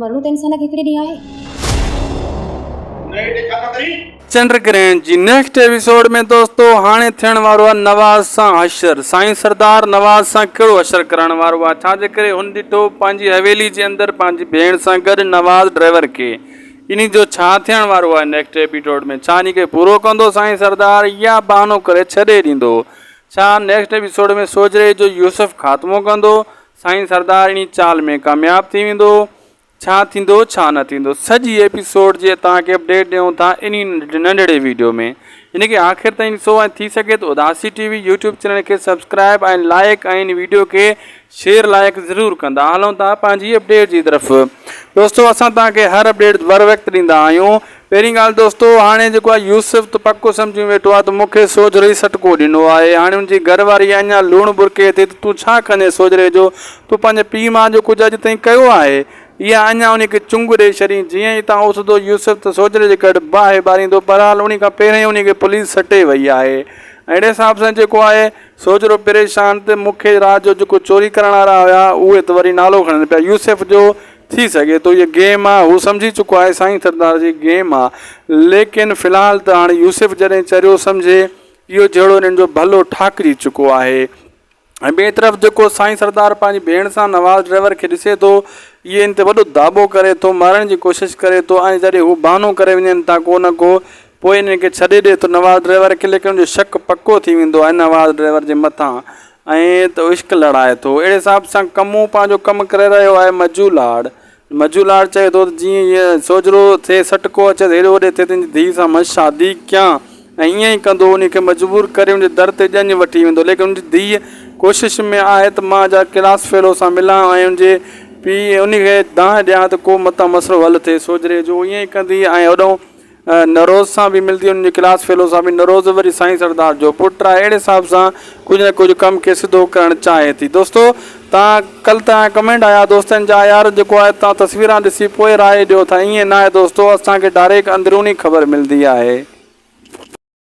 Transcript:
مرڻو ته انسان کي هڪڙي ڏينهن آهي. چنڊ گرهڻ جي نيڪسٽ ايپيسوڊ ۾ دوستو هاڻي ٿيڻ وارو آهي نواز سان حشر سائين سردار نواز سان ڪهڙو حشر ڪرائڻ وارو آهي ڇا جي ڪري هن ڏٺو پنهنجي حويلي جي اندر پنهنجي ڀيڻ سان گڏ نواز ڊرائيور کي انهي جو ڇا ٿيڻ وارو آهي نيڪسٽ ايپيسوڊ ۾ ڇا انهي کي پورو ڪندو سائين سردار يا بهانو ڪري ڇڏي ڏيندو ڇا نيڪسٽ ايپيسوڊ ۾ سوجهري جو يوسف خاتمو ڪندو سائين سردار انهي چال ۾ ڪامياب ٿي ويندو ڇا ٿيندو ڇا نه ٿيندو سڄي ايپيسوڊ جي توهان کي اپڊيٽ ڏيون ٿا انهي ننڍڙي ويڊيو ۾ ان کي آخر تائين ڏسو ۽ ٿي سگهي ته اداسي ٽي وي يوٽيوب چينل کي سبسڪرائب ۽ لائيڪ ۽ ان ويڊيو کي شيئر لائيڪ ضرور ڪندا هلون ٿا پنهنجي اپڊيٽ جي طرف دوستو اسان توهان کي هر اپڊيٽ بر وقت ڏيندا آهيون پهرين ڳالهه دوستو هاڻي جيڪو آ يوسف ته پڪو سمجهي ويٺو آ ته مون کي سوجهري ئي سٽڪو ڏنو آهي هاڻي ان جي گهر واري اڃان لوڻ برڪي ٿي ته تون ڇا ڪندين سوجهري جو تون پنهنجي پيء ماء جو ڪجهه اڄ تائين ڪيو آهي اها اڃان ان کي چنگ ڏئي ڇڏين جيئن ئي تان اٿندو يوسف ته سوجهري جي گهر باهه ٻاريندو بهرحال انهي کان پهرين ان کي پوليس سٽي وئي آهي اهڙي حساب سان جيڪو آهي سوجهرو پريشان ته مون کي رات جو جيڪو چوري ڪرڻ وارا هيا اهي ته وري نالو کڻن پيا يوسف جو ٿي سگهي ٿو هيء گيم آ. هو سمجهي چڪو آهي سائين سردار جي گيم آ. ليڪن في الحال ته هاڻي يوسف جڏهن چريو سمجهي اهو جهيڙو انهن جو ڀلو ٺاهڪجي چڪو آهي. ۽ ٻئي طرف جيڪو سائين سردار پنهنجي ڀيڻ سان نواز ڊرائيور کي ڏسي ٿو اهي ان تي وڏو داٻو ڪري ٿو مارڻ جي ڪوشش ڪري ٿو ۽ جڏهن هو بهانو ڪري وڃن ٿا ڪو نه ڪو پوء انهن کي ڇڏي ڏي ٿو نواز ڊرائيور کي ليڪن ان جو شڪ پڪو ٿي ويندو آهي نواز ڊرائيور جي مٿان ائين ته عشق لڙائي ٿو. اهڙي حساب سان ڪمون پنهنجو ڪم ڪري رهيو آهي. مجو لاڙ مجو لاڙ چئي ٿو ته جيئن هيء سوجهرو ٿئي سٽڪو اچيس هيڏو وڏي ٿئي ته ان جي ڌيء سان مان شادي ڪيان ۽ ائين ئي ڪندو انهيء کي مجبور ڪري ان جي در تي ڄڃ وٺي ويندو ليڪن ان جي ڌيء ڪوشش ۾ آهي ته مان جا ڪلاس فيلو سان ملان ۽ ان جي پيء انهيء کي دانهن ڏيان ته ڪو متان مسئلو حل ٿئي سوجهري جو ائين ئي ڪندي ۽ هوڏئون نوروز سان به ملندي انهن جي ڪلاس فيلو سان به نوروز وري سائين سردار جو پٽ آهي اهڙي حساب سان ڪجهه نه ڪجهه ڪم کي سڌو ڪرڻ چاهي ٿي دوستو تان ڪل تان ڪمينٽ آيا دوستن جا يار جيڪو آهي تان تصويران ڏسي پوء راء ڏيو ٿا ائين ناهي دوستو اسان کي ڊائريڪٽ اندروني خبر ملندي آهي.